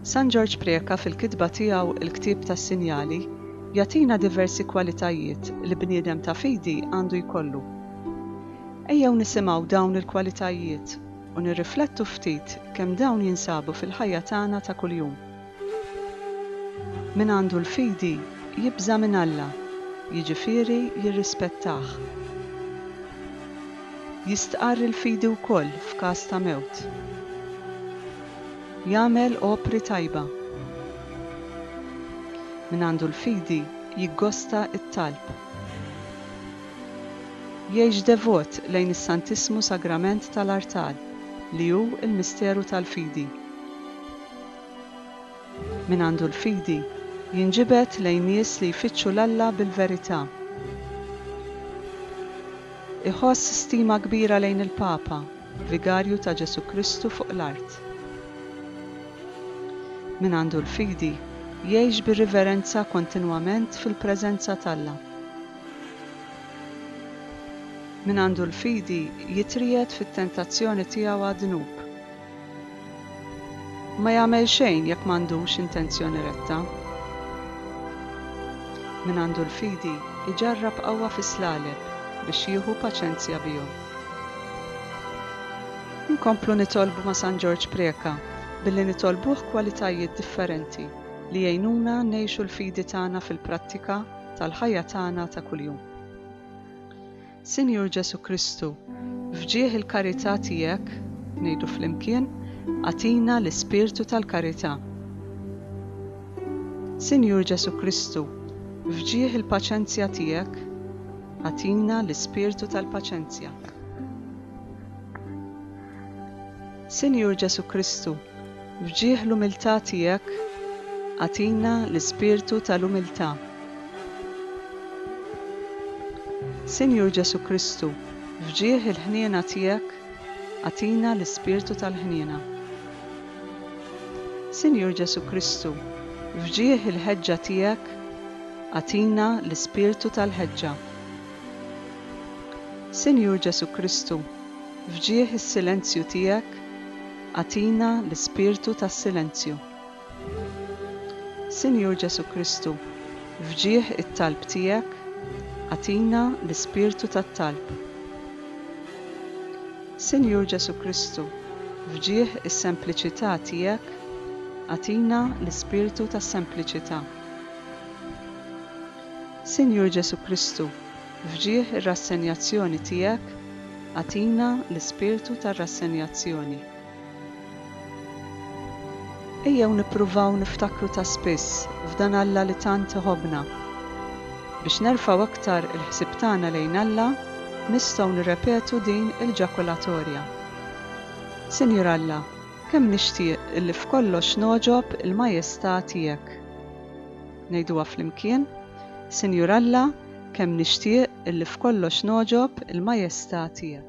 San Ġorġ Preca fil-kitba tiegħu Il-Ktieb tas-Sinjali jagħtina diversi kwalitajiet li bniedem ta' fidi għandu jkollu. Ejjew nisimgħu dawn il-kwalitajiet u nirriflettu ftit kemm dawn jinsabu fil-ħajja tagħna ta' kuljum. Min għandu l-fidi jibża' minn Alla, jiġifieri jirrispettah. Jistqarr il-fidi wkoll f'każ ta' mewt. Jagħmel opri tajba. Min għandu l-fidi jiggosta t-talb. Jgħix devot lejn is-Santissmu Sagrament tal-artal, li hu l-misteru tal-fidi. Min għandu l-fidi, jinġibed lejn nies li jfittxu 'l Alla bil-verità. Iħoss stima kbira lejn il-Papa, Vigarju ta' Ġesù Kristu fuq l-art. Min għandu l-fidi, jgħix bi riverenza kontinwament fil-preżenza t'Alla. Min għandu l-fidi, jitriegħed fit-tentazzjoni tiegħu għad-dnub. Ma jagħmel xejn jekk m'għandux intenzjoni retta. Min għandu l-fidi jġarrab qawwa fis-slaleb biex jieħu paċenzja bihom. Inkomplu nitolbu ma' San Ġorġ Preca billi nitolbuh kwalitajiet differenti li jgħinuna ngħixu l-fidi tagħna fil-prattika tal-ħajja tagħna ta' kuljum. Sinjur Ġesù Kristu, f'ġieħ il-karità tiegħek, ngħidu flimkien, agħtina l-ispirtu tal-karità. Sinjur Ġesù Kristu, f'ġieħ il-paċenzja tiegħek, agħtina l-ispirtu tal-paċenzja. Sinjur Ġesù Kristu, f'ġieħ l-umiltà tiegħek, agħtina l-ispirtu tal-umiltà. Sinjur Ġesù Kristu, f'ġieħ il-ħniena tiegħek, agħtina l-ispirtu tal-ħniena. Sinjur Ġesù Kristu, f'ġieħ il-ħeġġa tiegħek, agħtina l-ispirtu tal-ħeġġa. Sinjur Ġesù Kristu, F'ġieħ is-silenzju tiegħek agħtina l-ispirtu tas-silenzju. Sinjur Ġesù Kristu, f'ġieħ it-talb tiegħek agħtina l-ispirtu tat-talb. Sinjur Ġesù Kristu, f'ġieħ is-sempliċità tiegħek agħtina l-ispirtu tas-sempliċità. Sinjur Ġesù Kristu, F'ġieħ ir-rassenjazzjoni tiegħek, agħtina l-ispirtu tar-rassenjazzjoni. Ejjew nippruvaw niftakru ta' spiss f'dan Alla li tant iħobbna. Biex nerfgħu aktar il-ħsieb tagħna lejn Alla, nistgħu nirrepetu din il-ġakulatorja, Sinjur Alla, kemm nixtieq illi f'kollox nogħġob il-majestà tiegħek. Ngħiduha flimkien, Sinjur Alla, Kemm nixtieq illi f'kollox nogħġob il-Majestà tiegħek.